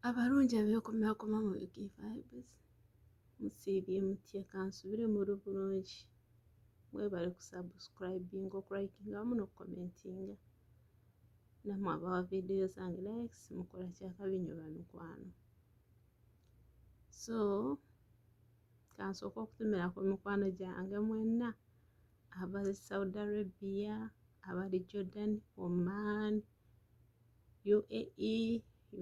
abalungi abekomakoma mu vibes musiibye mutya kansubire muli bulungi mwebale kusubscribinga okulikinga wamu nokukomentinga namwe abawa vidiyo zange likes mukola kyakabi nyo bamikwano so kansooka okutumira ku mikwano gyange mwenna abali saudi arabia abali jordan oman UAE,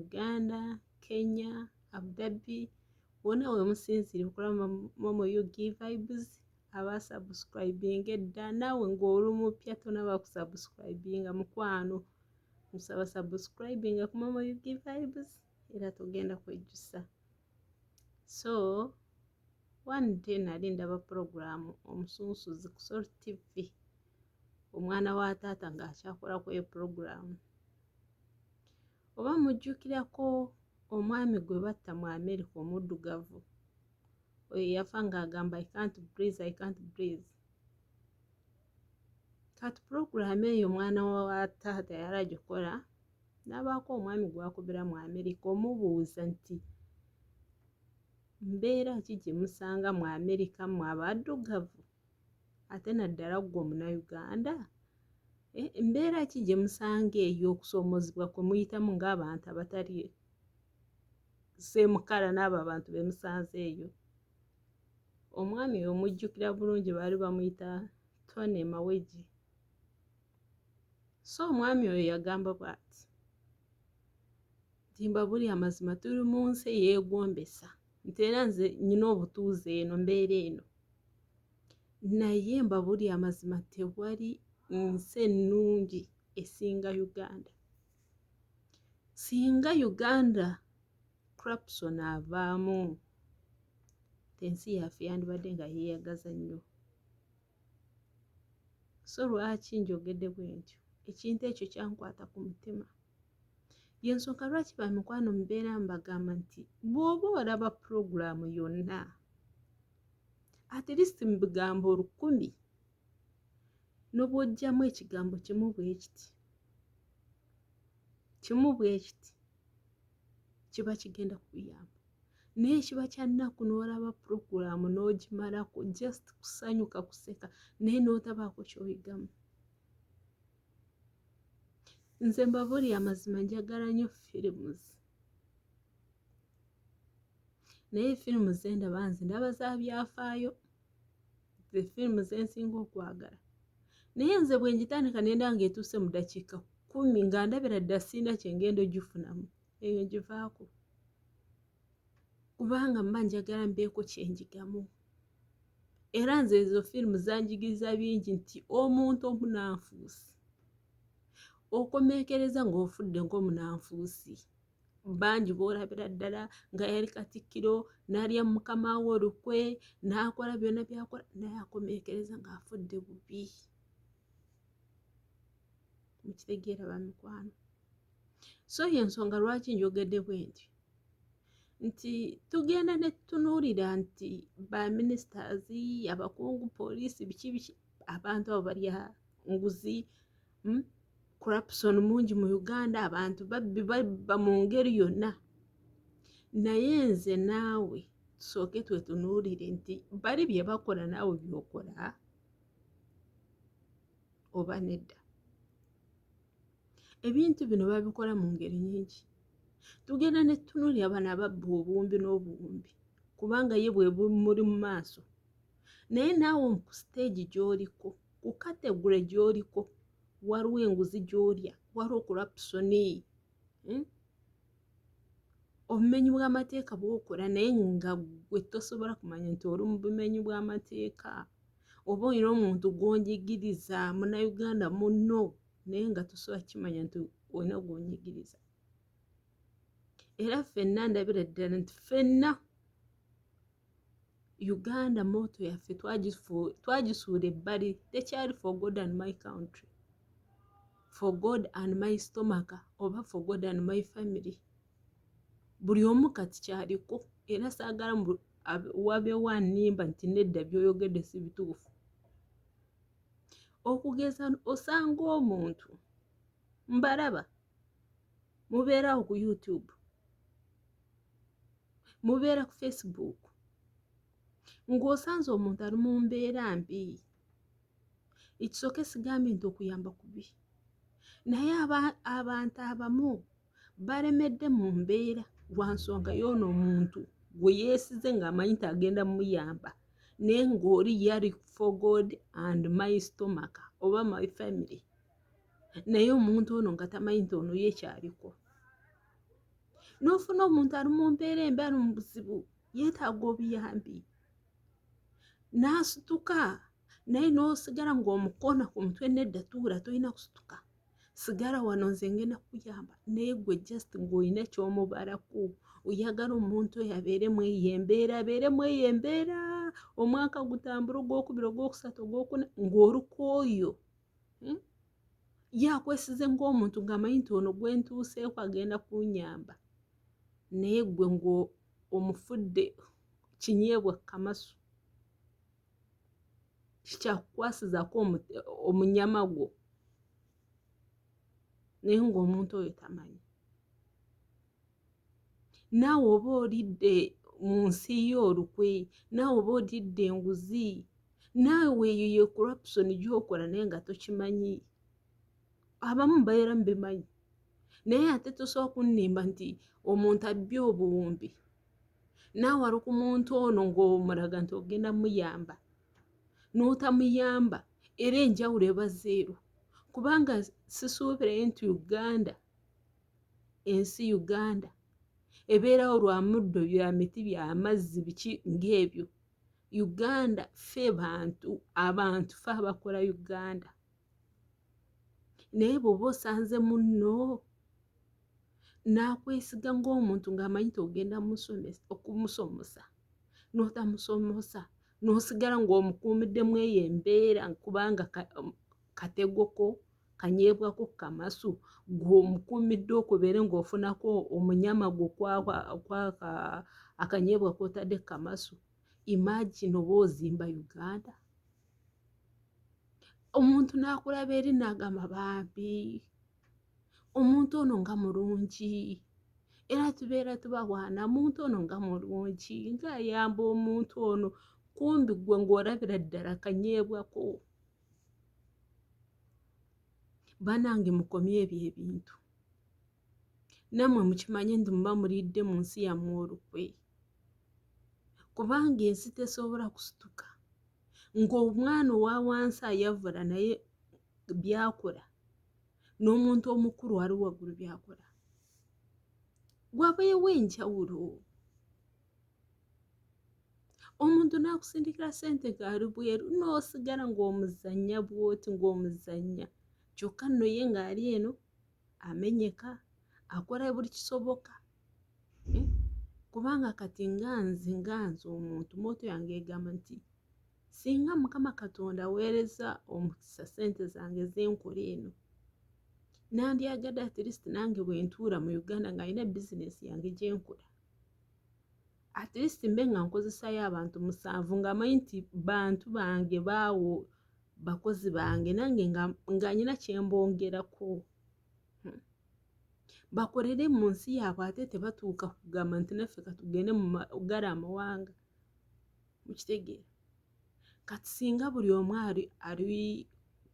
Uganda, Kenya, Abu Dhabi wona wemusinzire okulaba momo ug vibes aba subscribing edda naawe ng'oli mupya tonaba kusubscribinga mukwano musaba subscribing ku momo ug vibes era tugenda kwejjusa so one day nali ndaba pulogulaamu omusunsuzi ku sol tv omwana wa taata ng'akyakolako eyo pulogulaamu oba mujjukirako omwami gwe batta mu amerika omuddugavu oyo yafa ng'agamba i can't breeze i can't breeze kati pulogulaamu eyo omwana wa taata yali agikola n'abaako omwami gwakubira mu amerika omubuuza nti mbeera ki gye musanga mu amerika mu abaddugavu ate naddala ggwe omunauganda e, mbeera ki gye musanga eyo okusoomozebwa kwe muyitamu ng'abantu abatali seemukala n'abo abantu be musanze eyo omwami omujjukira bulungi baali bamuyita tony mawegi so omwami oyo yagamba bwati nti mbabuli amazima tuli mu nsi eyeegombesa nti era nze nyina obutuuze eno mbeera eno naye mbabuli amazima tewali nsi ennungi esinga uganda singa uganda crapson avaamu ensi yaffe yandibadde nga yeeyagaza nnyo so lwaki njogedde bwe ntyo ekintu ekyo kyankwata ku mutima yensonga lwaki ba mikwano mubeera mbagamba nti bw'oba olaba pulogulaamu yonna at least mu bigambo olukumi n'obwojjamu ekigambo kimu bwe kiti kimu bwe kiti kiba kigenda kuyamba naye kiba kyannaku n'olaba puroguramu n'ogimalako just kusanyuka kuseka naye n'otabaako kyoyigamu nze mbabuli amazima njagala nyo films naye firimu zendaba nze ndaba za byafaayo the film zensinga okwagala naye nze bwenjitandika nenda nga etuuse mu dakiika kumi nga ndabira dda siina kyengenda ogifunamu eyo ngivaako kubanga mba njagala mbeeko kyenjigamu era nze ezo firimu zanjigiriza bingi nti omuntu omunanfuusi okomekereza ng'ofudde ng'omunanfuusi bangi boolabira ddala nga yali katikkiro n'alya mukama we olukwe n'akola byonna byakola naye akomeekereza ng'afudde bubi mukitegeera bamikwano so ye ensonga lwaki njogedde bwe nti nti tugenda ne tutunuulira nti ba ministers abakungu poliisi biki biki abantu abo balya nguzi hmm? corruption mungi mu uganda abantu babbi babba mu ngeri yonna naye nze naawe tusooke twetunuulire nti bali bye bakola naawe byokola oba nedda ebintu bino babikola mu ngeri nyingi tugenda ne tutunuulira bano ababba obuwumbi n'obuwumbi kubanga ye bwe bumuli mu maaso naye naawe ku siteegi gy'oliko ku kategule gy'oliko waliwo enguzi gy'olya waliwo okulapusoni hmm? obumenyi bw'amateeka bwokola naye nga gwe tosobola kumanya nti oli mu bumenyi bw'amateeka oba olina omuntu gw'onjigiriza munauganda munno naye nga tosobola kimanya nti olina gw'onyigiriza era fenna ndabira ddala nti fenna uganda moto yaffe twagisuula ebbali tekyali for god and my country for god and my stomaka oba for god and my family buli omu kati kyaliko era saagala wabeewo animba nti nedda byoyogedde si bituufu okugeza osanga omuntu mbalaba mubeerawo ku youtube mubeera ku facebook ng'osanze omuntu ali mu mbeera mbi ekisooka esigambye nti okuyamba kubi naye abantu abamu balemedde mu mbeera lwa nsonga yoono omuntu gwe yeesize ng'amanyi nti agenda muyamba naye ng'oli yali for god and my stomach oba my family naye omuntu ono nga tamanyi nti ono ye kyaliko n'ofuna omuntu ali mu mbeera embi ali mu buzibu yeetaaga obuyambi n'asituka naye n'osigala ng'omukoona ku mutwe nedda tuula tolina kusituka sigala wano nze ngenda kuyamba naye gwe just ng'olina ky'omubalaku oyagala omuntu oyo abeere mu eyo embeera abeere mu eyo embeera omwaka gutambula ogwokubiri ogwokusatu ogwokuna ng'oluka oyo hmm? yakwesize ng'omuntu ng'amanyi nti ono gwe ntuuseeko agenda kunyamba naye gwe ng'omufudde kinyeebwa kamasu kikyakukwasizaako omunyama gwo naye ng'omuntu oyo tamanyi naawe oba olidde mu nsi yo olukwe naawe oba olidde enguzi naawe weeyo ye corruption gyokola naye nga tokimanyi abamu baera mubimanyi naye ate tosobola kunnimba nti omuntu abbye obuwumbi naawe ali ku muntu ono ng'omulaga nti ogenda muyamba n'otamuyamba era enjawulo ebazeero kubanga sisuubire nti uganda ensi uganda ebeerawo lwa muddo bya miti bya mazzi biki ng'ebyo uganda fe bantu abantu fe abakola uganda naye bwoba osanze munno n'akwesiga ng'omuntu ng'amanyi togenda okumusomosa n'otamusomosa n'osigala ng'omukuumiddemu eyo embeera kubanga kategoko kanyeebwako ku kamasu gwe omukuumidde okubeere ng'ofunako omunyama gwo kwaka akanyeebwa k'otadde ku kamasu imagine oba ozimba uganda omuntu n'akulaba eri n'agamba bambi omuntu ono nga mulungi era tubeera tubawaana muntu ono nga mulungi ng'ayamba omuntu ono kumbi gwe ng'olabira ddala kanyeebwako banange mukomye ebyo ebintu namwe mukimanye nti muba mulidde mu nsi yammwe olukwe kubanga ensi tesobola kusituka ng'omwana owa wansi ayavula naye byakola n'omuntu omukulu ali waggulu byakola wabeewo enjawulo omuntu n'akusindikira sente ng'ali bweru n'osigala ng'omuzannya bwoti ng'omuzannya kyokka nno ye ng'ali eno amenyeka akola buli kisoboka eh? kubanga kati nga nze nga nze omuntu moto yange egamba nti singa mukama katonda weereza omukisa sente zange zenkola eno nandyagadde at least nange bwentuula mu uganda ng'alina bizinesi yange gyenkola at least mbe nga nkozesayo abantu musanvu nga manyi nti bantu bange baawo bakozi bange nange nga nyina kyembongerako hmm. bakolere mu nsi yaabwe ate tebatuuka kugamba nti naffe katugende mugala amawanga mukitegeera kati singa buli omu ali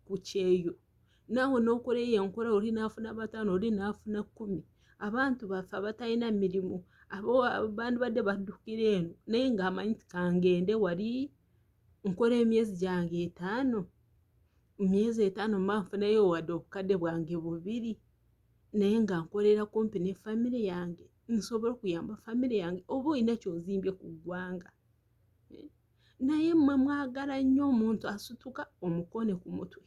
ku kyeyo naawe n'okola eyo enkola oli naafuna bataano oli naafuna kumi abantu baffe abatalina mirimu bandibadde baddukira eno naye ng'amanyi ti kangende wali nkola emyezi gyange etaano myezi etaano manfunayo wadde obukadde bwange bubiri naye nga nkolera kumpi ne famire yange nsobole okuyamba famire yange oba olina kyozimbye ku ggwanga eh, naye mwe mwagala nnyo omuntu asituka omukone ku mutwe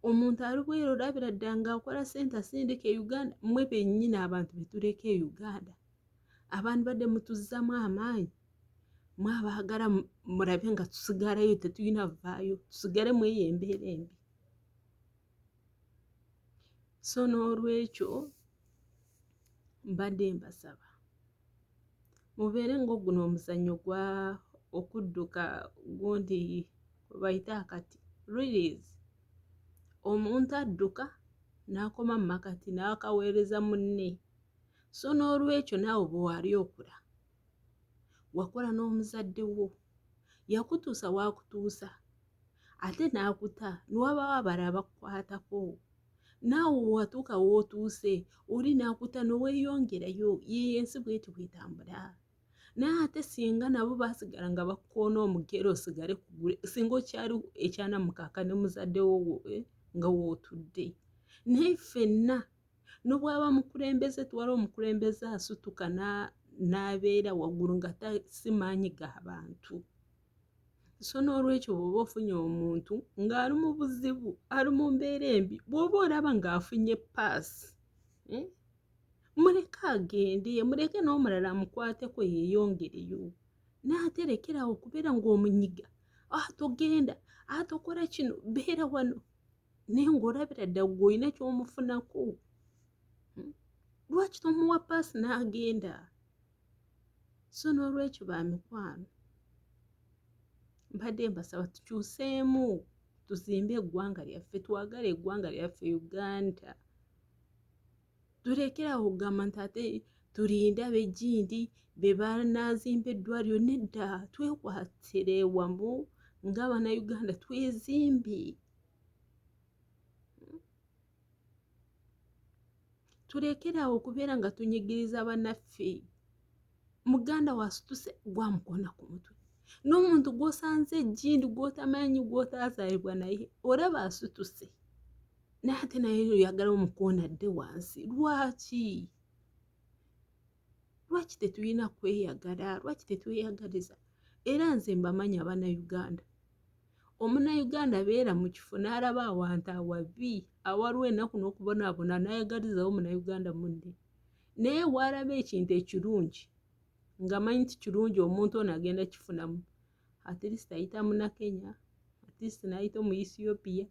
omuntu alibwera olabira ddala ngaakola sente asindika e uganda mwe bennyini abantu betuleka e uganda abantu badde mutuzzamu amaanyi mwabaagala mulabe nga tusigalayo tetulina vaayo tusigale mweyo embeera embi so n'olwekyo mbadde mbasaba mubeere ng'oguno omuzannyo gwa okudduka gundi bayita akati release omuntu adduka n'akoma mu makati n'akaweereza munne so n'olwekyo naawe bwe wali okula wakola n'omuzadde wo yakutuusa waakutuusa ate n'akuta newabaawo abala abakukwatako naawe watuuka wootuuse oli n'akuta neweyongerayo yeeyo ensi bweti bwetambula naye ate singa nabo basigala nga bakukoona omugere osigale kugule singa okyali ekyanamukaaka ne muzaddewo woe eh, nga wootudde naye ffenna nobwaba mukulembeze twala omukulembeze asutuka n'abeera waggulu nga tasimaanyi ga bantu so n'olwekyo bw'oba ofunye omuntu ng'ali mu buzibu ali mu mbeera embi bw'oba olaba ng'afunye paasi eh, muleke agende muleke n'omulala amukwateko yeeyongereyo naaterekerawo okubeera ng'omunyiga atogenda ah, atokola ah, kino beera wano naye ng'olabira ddala gwe olina ky'omufunako hmm? lwaki tomuwa paasi n'agenda so n'olwekyo ba mikwano mbadde mbasaba tukyuseemu tuzimbe eggwanga lyaffe twagale eggwanga lyaffe uganda tulekera awo okugamba nti ate tulinde abejindi be banaazimba eddwaliro nedda twekwatire wamu ng'abanauganda twezimbi tulekere awo okubeera nga tunyigiriza banaffe muganda wasituse gwamukona ku mutwe n'omuntu gwosanze ejjindi gwotamanyi gwotazaalibwa naye olaba asituse naye ate naye oyagala omukoona dde wansi lwaki lwaki tetulina kweyagala lwaki tetweyagaliza era nze mbamanyi abanauganda omunauganda beera mu kifo n'alaba awantu awabi awaliwo enaku n'okubonaabona nayagalizawo munauganda munne naye waalaba ekintu ekirungi ngamanyi nti kirungi omuntu ono agenda kifunamu at least ayita munakenya at least nayita omu ethiopia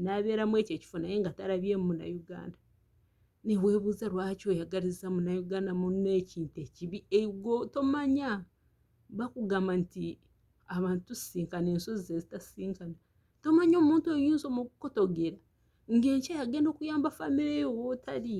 nabeera mu ekyo ekifo naye nga talabye munauganda newebuuza lwaki oyagaliza munauganda muna ekintu ekibi ego tomanya bakugamba nti abantu tusinkana ensozi zezitasinkana tomanya omuntu oyinza omukukotogera ngaenkya yagenda okuyamba famireyo wotali